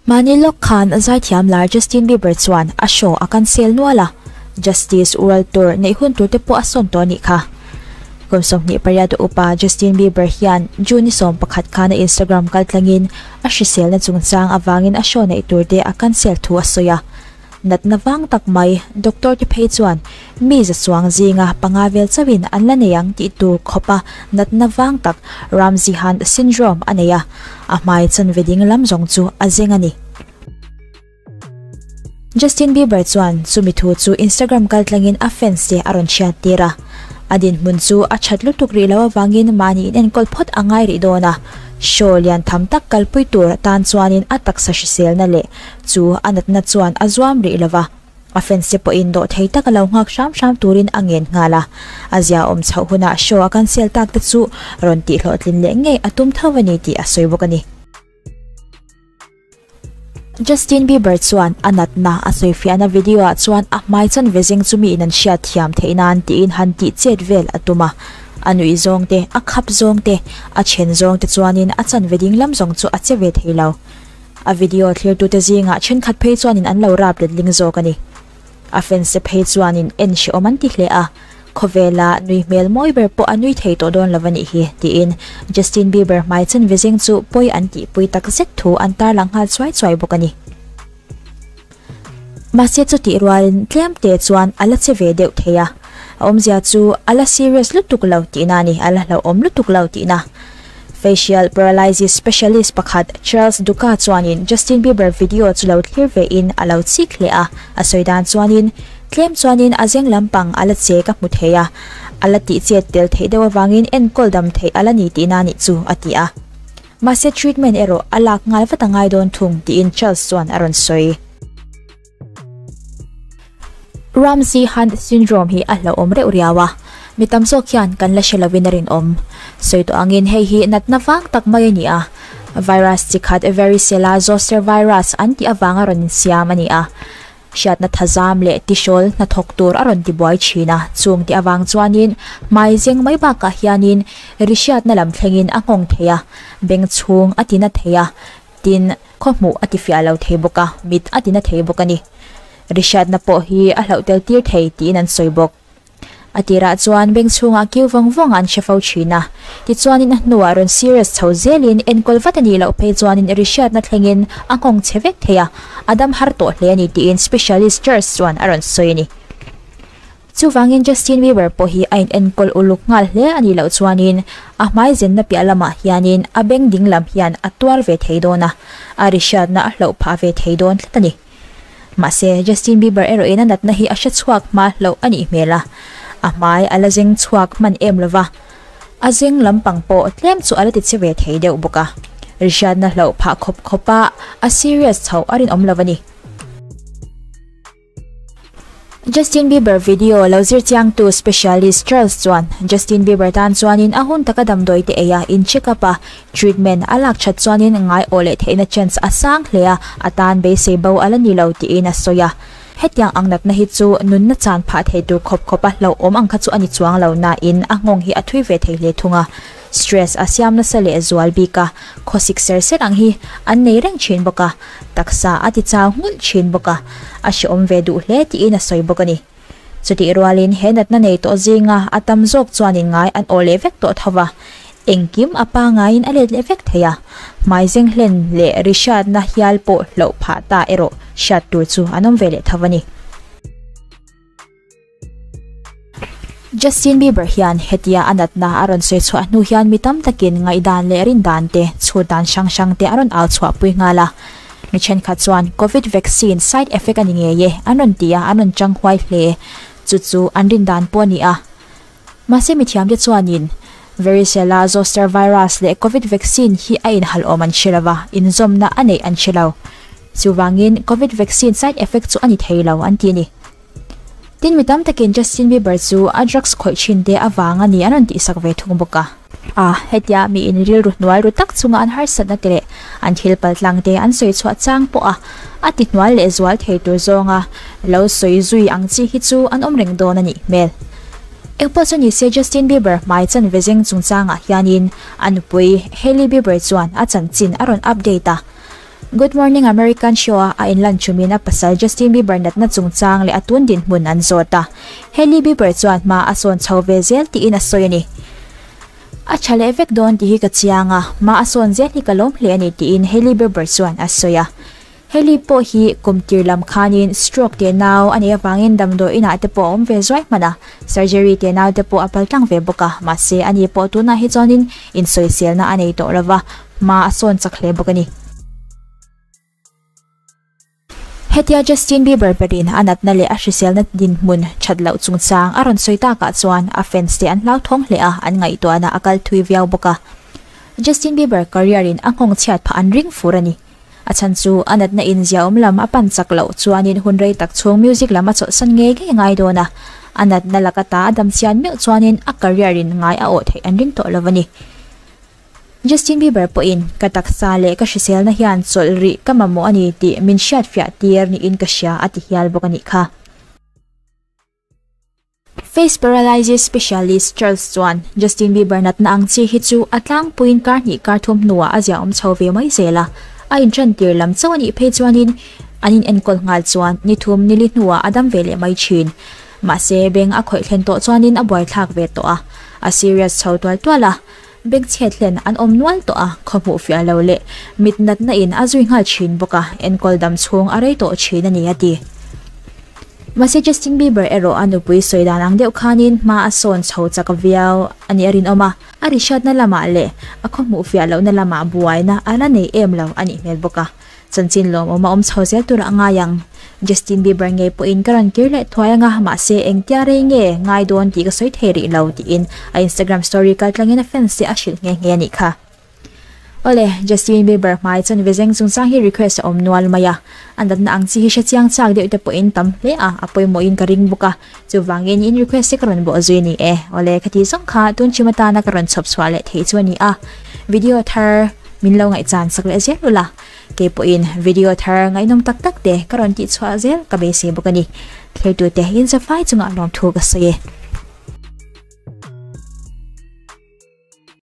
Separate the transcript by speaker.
Speaker 1: Mahni lawk khan zai thiam lai Justin Bieber chuan a show a cancel nual a, Justice World Tour neih hun tur te pawh a sawn tawh a nih kha. Kum sawmhnih pariat a upa Justin Bieber hian June ni sawm pakhat khan a Instagram kal tlangin A hriselna chungchang avangin a show neih tur te a cancel thu a sawi a. Natna vang tak mai, doctor te phei chuan mi za chuang zinga panga vel chauhin an la nei ang tih tur khawpa natna vang tak, Ramsay Hunt syndrome, a nei a. A hmai chanveding lam zawng chu a zeng a ni. Justin Bieber chuan chumi thu chu Instagram kal tlangin a fans te a rawn hriat tir a. A dinhmun chu a that lutuk rih loh avangin mahni in enkawl phawt a ngai rih dawn a. Show lian tham tak kalpui tur atan chuanin a taksa hriselna leh chu a natna chuan a zuam rih lo va. A fans te pawhin dawh thei taka lo nghak hram hram turin a ngen nghal a. A ziaawm chhoh hunah show a cancel tak te chu rawn tihhlawhtlin leh ngei a tum tho a ni tih a sawi bawk a ni. Justin Bieber chuan a natna a sawifiahna video ah chuan a hmai chan ve zeng chu mi in an hriat thiam theih nan tiin han tih chet vel a tum a. A nuih zawng te, a khap zawng te, a then zawng te chuanin a chan ve ding lam zawng chu a che ve thei lo. A video thlir tute zingah thenkhat phei chuanin an lo rap letling zawk a ni. A fanse phei chuanin en hrehawm an ti hle a, khawvela nui hmel mawi ber pawh a nui thei tawh dawn lo a nih hi, tiin Justin Bieber hmai chen ve zing chu pawi an tihpui takzet thu an tarlang nghal chuai chuai bawk a ni. Mahse chutih rualin tlemte chuan a la che ve deuh thei a, a awmzia chu a la serious lutuk lo tihna a ni, a la hlauhawm lutuk lo tihna. Facial paralysis specialist pakhat Charles Duca chuanin Justin Bieber video chu lo thlir ve in a lo chik hle a, a sawi dan chuanin, Tlem chuanin a zeng lampang a la che ka hmu thei a, a la tihchet tel theih deuh avangin enkawl dam theih a la ni tih na nih chu, a ti a. Mahse treatment erawh a lak nghal vat a ngai dawn thung, tiin Charles chuan a rawn sawi. Ramsay-Hunt syndrome hi a hlauhawm reuh riau a, mi tam zawk hian kan la hre lovin a rinawm. Sawi tawh angin hei hi natna vang tak mai a ni a, virus chi khat varicella zoster virus an tih avanga rawn insiam a ni a, hriatna thazam leh tisawl hnathawk tur a rawn tibuai thin a, chung tih avang chuanin hmai zeng mai bakah hianin ri hriatna lam thlengin a nghawng thei a, beng chhung a tina thei a, tin, Khaw hmuh a tifiah lo thei bawk a, mit a tina thei bawk a ni. Ri hriatna pawh hi a hlauh tel tir thei tiin an sawi bawk. A tirah chuan beng chhungah kiu vang vanga an hre fo thin a. Tichuanin a hnuah rawn serious chho zelin enkawl vat a nih loh phei chuanin ri hriatna thlengin a nghawng che vek thei a, a dam har tawh hle a ni tiin specialist Charles chuan a rawn sawi a ni. Chuvangin Justin Bieber pawh hi a inenkawl uluk nghal hle a nih loh chuanin a hmaizenna piah lamah hianin a beng ding lam hian a tuar ve thei dawn a, a rihriatna a hloh phah ve thei dawn tlat a ni. Mahse, Justin Bieber erawhin a natna hi a hre chhuak hma hloh a nih hmel a, a hmai a la zeng chhuak hman em lova, a zeng lampang pawh tlem chu a la ti che ve thei deuh bawk a, rihriatna hloh phah khawp khawpa a serious chhoh a rinawm lova ni. Justin Bieber video lo zir chiangtu specialist Charles chuan Justin Bieber tan chuanin a hun taka damdawi te eia in check up a treatment a lak that chuanin ngai awh leh theihna chance a sang hle a, a tan beisei bo a la ni lo tiin a sawi a. Hetiang ang natna hi chu nunna chan phah thei tur khawp khawpa hlauhawm ang kha chu a ni chuang lo nain a nghawng hi a thui ve thei hle thung a. Stress a siam nasa leh zual bik a, khawsik ser ser ang hi an nei reng thin bawk a, taksa a ti chau nghulh thin bawk a, a hreawm ve duh hle tiin a sawi bawk a ni. Chutih rualin he natna nei tawh zinga a tam zawk chuanin ngai an awh leh vek tawh tho va, engkim a pangaiin a let leh vek thei a, hmai zenghlên leh ri hriatna hial pawh hloh phah ta erawh hriat tur chu an awm ve leh tho a ni. Justin Bieber hian hetia a natna a rawn sawi chhuah hnu hian mi tam takin ngaihdan leh rindan te, chhut dan hrang hrang te a rawn au chhuah pui nghal a. Mi thenkhat chuan Covid vaccine side effect a ni ngei e an rawn ti a, an rawn chang huai hle e, chu chu an rindan pawh a ni a. Mahse mithiam te chuanin Varicella zoster virus leh Covid vaccine hi a inhalawm an hre lo va, inzawmna a neih an hre lo. Chuvangin Covid vaccine side effect chu a ni thei lo an ti a ni. Tin, mi tam takin Justin Bieber chu a drugs khawih thin te avang a ni an rawn tihsak ve thung bawk a. A, hetia mi in rilru hnuai ru tak chunga an harsatna te leh an thil pal tlang te an sawi chhuah chang pawh a, a tihnual leh zual thei tur zawnga lo sawi zui ang chi hi chu an awm reng dawn a nih hmel. Engpawh chu nise Justin Bieber hmai chanve zeng chungchangah hianin a nupui Hailey Bieber chuan a chanchin a rawn update a. Good Morning American show-ah a inlan thumin a pasal Justin Bieber natna chungchang leh a tun dinhmun an zawt a. Hailey Bieber chuan hma a sawn chho ve zel tiin a sawi a ni. A tha leh vek dawn tih hi ka chiang a, hma a sawn zel hi ka lawm hle a ni tiin Hailey Bieber chuan a sawi a. Hailey pawh hi kum tir lam khanin stroke teh nau a nih avangin damdawi inah te pawh a awm ve zuai hmana surgery teh nau te pawh a paltlang ve bawk a. Mahse ani pawh tunah hi chuanin insawiselna a nei tawh lova, Hma a sawn chak hle bawk a ni. Hetia Justin Bieber berin a natna leh a hriselna dinhmun that loh chungchang a rawn sawi takah chuan a fans te an hlauthawng hle a, an ngaihtuahna a kal thui viau bawk a. Justin Bieber career in a nghawng chhiat phah an ring fur a ni. A chhan chu a natna in ziaawm lam a pan chak loh chuanin hun rei tak chhung music lam a chawlhsan ngei ngei a ngai dawn a. A natna laka ta a dam chian meuh chuanin a career in ngai a awh theih an ring tawh lo a ni. Justin Bieber pawhin ka taksa leh ka hriselna hian chawlh rih ka mamawh a ni tih min hriatfiah tir niin ka hria a ti hial bawk a nih kha. Face paralysis specialist Charles chuan Justin Bieber natna ang chi hi chu a tlangpuiin kar hnih kar thum hnuah a ziaawm chho ve mai zel a. A inṭan tir lam chauh a nih phei chuanin an inenkawl nghal chuan ni thum ni li hnuah a dam ve leh mai ṭhin. Mahse, beng a khawih thlen tawh chuanin a buaithlak ve tawh a, a serious chho tual tual a. Bag chhiat hian an awm nual tawh a, khaw hmuh fiah lo leh mit natna in a zui nghal thin bawk a, enkawl dam chhung a rei tawh thin a ni a ti. Mahse Justin Bieber erawh a nupui sawi dan ang deuh khanin hma a sawn chho chak viau a nih a rinawm a, a rihriatna lamah leh a khaw hmuh fiah lohna lamah buaina a la nei em lo a nih hmel bawk a. Chanchin lawm awm a awm chho zel tur a ngai ang. Justin Bieber ngei pawhin ka rawn kir leh thuai ang a, mahse engtia rei nge ngai dawn tih ka sawi thei rih lo, tiin a Instagram story kal tlangin a fans te a hrilh nghe nghe a nih kha. Awle, Justin Bieber hmai chuan vizeng chungchang hi request a awm nual mai a, a natna ang chi hi hre chiang chak deuh te pawhin tam hle a, a pawimawhin ka ring bawk a. Chuvangin in request hi ka rawn bawh zui ni e. Awle, khatih zawng kha tun chhim atana ka rawn chhawp chhuah leh thei chu a ni a. Video thar min lo ngaihchan sak leh zel ula. Kei pawhin video thar ngaihnawm tak tak te ka rawn tih chhuah zel ka beisei bawk a ni. Thlertute inzia fai chunga lawmthu ka sawi e.